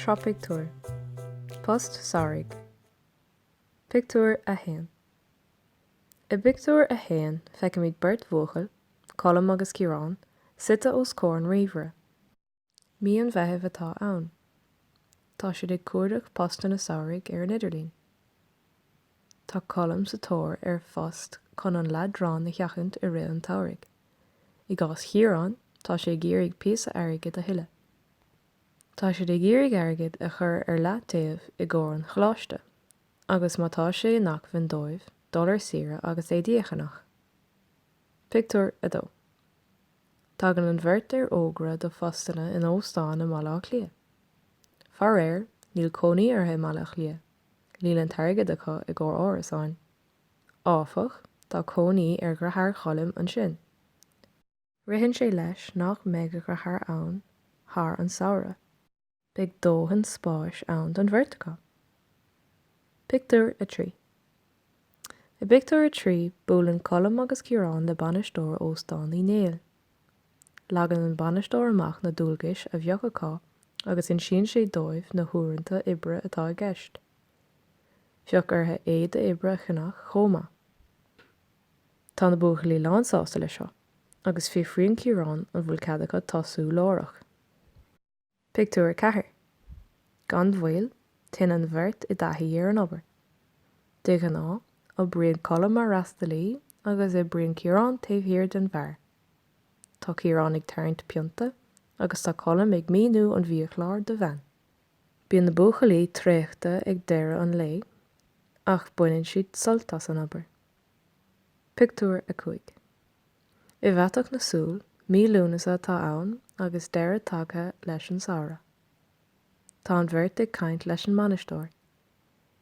Sraith pictiúr. Post samhraidh. Pictiúr 1 I bpictiúr a haon feicimid beirt bhuachaill, Colm agus Ciarán, suite os comhair an ríomhaire. Mí an Mheithimh atá ann. Tá siad ag cuardach postanna samhraidh ar an idirlíon. Tá Colm sa tóir ar phost chun an leadrán a sheachaint i rith an tsamhraidh. I gcás Chiaráin, tá sé ag iarraidh píosa airgid a thuilleadh. Tá siad ag iarraidh airgead a chur ar leataobh i gcomhair an choláiste agus má tá sé in acmhainn dóibh dul ar saoire agus é díochanach. Pictiúr 2. Tagann an bheirt ar fhógra do phostanna in óstán i mBaile Átha Cliath. Faraor, níl cónaí orthu i mBaile Átha Cliath, níl an t-airgead acu i gcomhair árasáin. Áfach, tá cónaí ar dheartháir Choilm ansin. Ritheann sé leis nach mbeidh a dheartháir ann thar an samhradh. Beidh dóthain spáis ann don bheirt acu. Pictiúr 3 I bpictiúr a trí, buaileann Colm agus Ciarán le bainisteoir Óstán Uí Néill. Leagann an bainisteoir amach na dualgais a bheadh acu agus insíonn sé dóibh na huaireanta oibre atá i gceist. Bheadh orthu éide oibre a cheannach chomh maith. Tá na buachaillí lánsásta leis seo agus fiafraíonn Ciarán an bhfuil cead acu tosú láithreach. Pictiúr 4 Gan mhoill, téann an bheirt i dtaithí ar an obair. De ghnáth, oibríonn Colm mar fhreastalaí agus oibríonn Ciarán taobh thiar den bheár. Tá Ciarán ag tarraingt pionta agus tá Colm ag míniú an bhiachláir do bhean. Bíonn na buachaillí traochta ag deireadh an lae ach baineann siad sult as an obair. Pictiúr 5 I bhfaiteadh na súl, mí Lúnasa atá ann agus deireadh tagtha leis an samhradh. Tá an bheirt ag caint leis an mbainisteoir.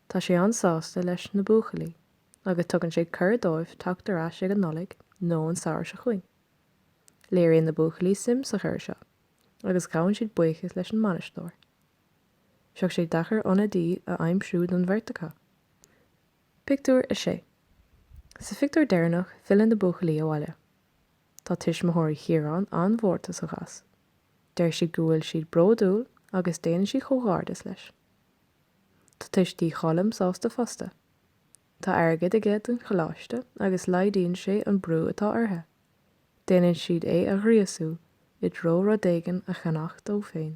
Tá sé an-sásta leis na buachaillí agus tugann sé cuireadh dóibh teacht ar ais ag an Nollaig nó an samhradh seo chugainn. Léiríonn na buachaillí suim sa chuireadh seo agus gabhann siad buíochas leis an mbainisteoir. Bheadh sé deacair ionadaí a aimsiú don bheirt acu. Pictiúr 6 Sa phictiúr deireanach filleann na buachaillí abhaile. Tá tuismitheoirí Chiaráin an-mhórtasach as. Deir siad go bhfuil siad bródúil agus déanann siad comhghairdeas leis. Tá tuistí Choilm sásta fosta. Tá airgead aige don choláiste agus laghdaíonn sé an brú atá orthu. Déanann siad é a ghríosú i dtreo rud éigin a cheannach dó féin.